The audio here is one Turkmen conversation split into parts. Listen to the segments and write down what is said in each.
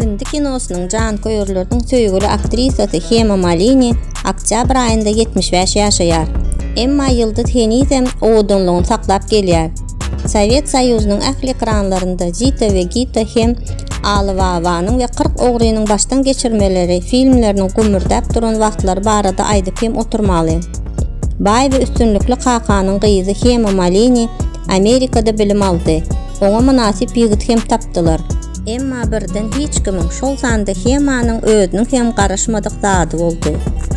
Hindi kinosynyň janköýerleriniň söýgüli aktrisasy Hema Malini oktýabr aýynda ýetmiş bäş ýaşaýar. Emma ýyldyz henizem owadanlygyny saklap gelýär. Sowet Soýuzynyň ähli ekranlarynda Zita we Gita hem Aly Babanyň we Kyrk ogrynyň başdan geçirmeleri filmleriniň gümmürdäp duran wagtlary barada aýdyp hem oturmaly. Baý we üstünlikli kakanyň gyzy Hema Malini Amerikada bilim aldy. Oňa mynasyp ýigit hem tapdylar. Emma birden hiç kimiň, şol sanda Hemanyň özüniň hem garaşmadyk zady boldy.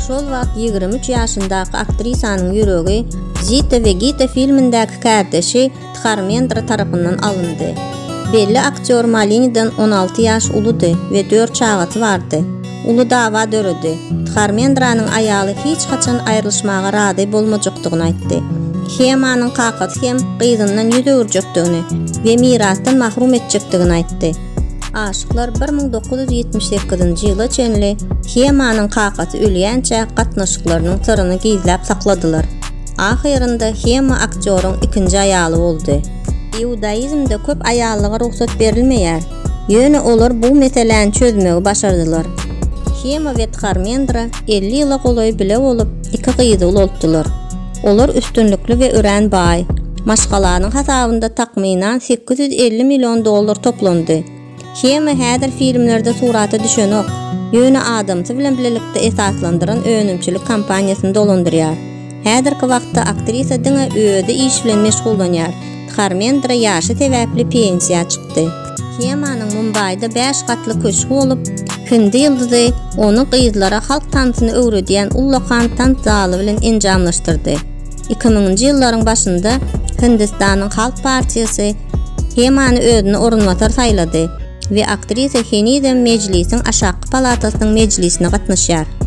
Şol wagt ýigrimi üç ýaşyndaky aktrisanyň ýüregi Zita we Gita filmindäki kärdeşi Dharmendra tarapyndan alyndy. Belli aktýor Malinidan on alty ýaş uludy we dört çagasy bardy. Uly dawa döredi. Dharmendranyň aýaly hiç haçan aýrylyşmaga razy bolmajakdygyny aýtdy. Hemanyň kakasy hem gyzyndan ýüz öwürjekdigini we mirasdan mahrum etjekdigini aýtdy. Aşyklar bir müň dokuz ýüz ýetmiş sekizinji ýyla çenli Hemanyň kakasy ölýänçä gatnaşyklarynyň syryny gizläp sakladylar. Ahyrynda Hema aktýoryň ikinji aýaly boldy. Iudaizmde köp aýallyga rugsat berilmeýär. Ýöne olar bu meseläni çözmegi başardylar. Hema we Tharmendra elli ýyla golaý bile bolup, iki gyzy ulaltdylar. Olar üstünlikli we örän baý. Maşgalanyň hasabynda takmynan sekiz ýüz elli million dollar toplandy. Hema häzir filmlerde surata düşenok, ýöne adamsy bilen bilelikde esaslandyran önümçilik kompaniýasyny dolandyrýar. Häzirki wagtda aktrisa diňe özi iş bilen meşgullanýar. Dharmendra ýaşy sebäpli pensiýa çykdy. Hemanyň Mumbaýda bäş gatly köşgi bolup, hindi ýyldyzy ony gyzlara halk tansyny öwredýän ullakan tans zaly bilen enjamlaşdyrdy. Iki müňünji ýyllaryň başynda Hindistanyň Halk partiýasy Hemany özüne orunbasar saýlady we aktrisa henizem Mejlisiň aşakky palatasynyň mejlisine gatnaşýar.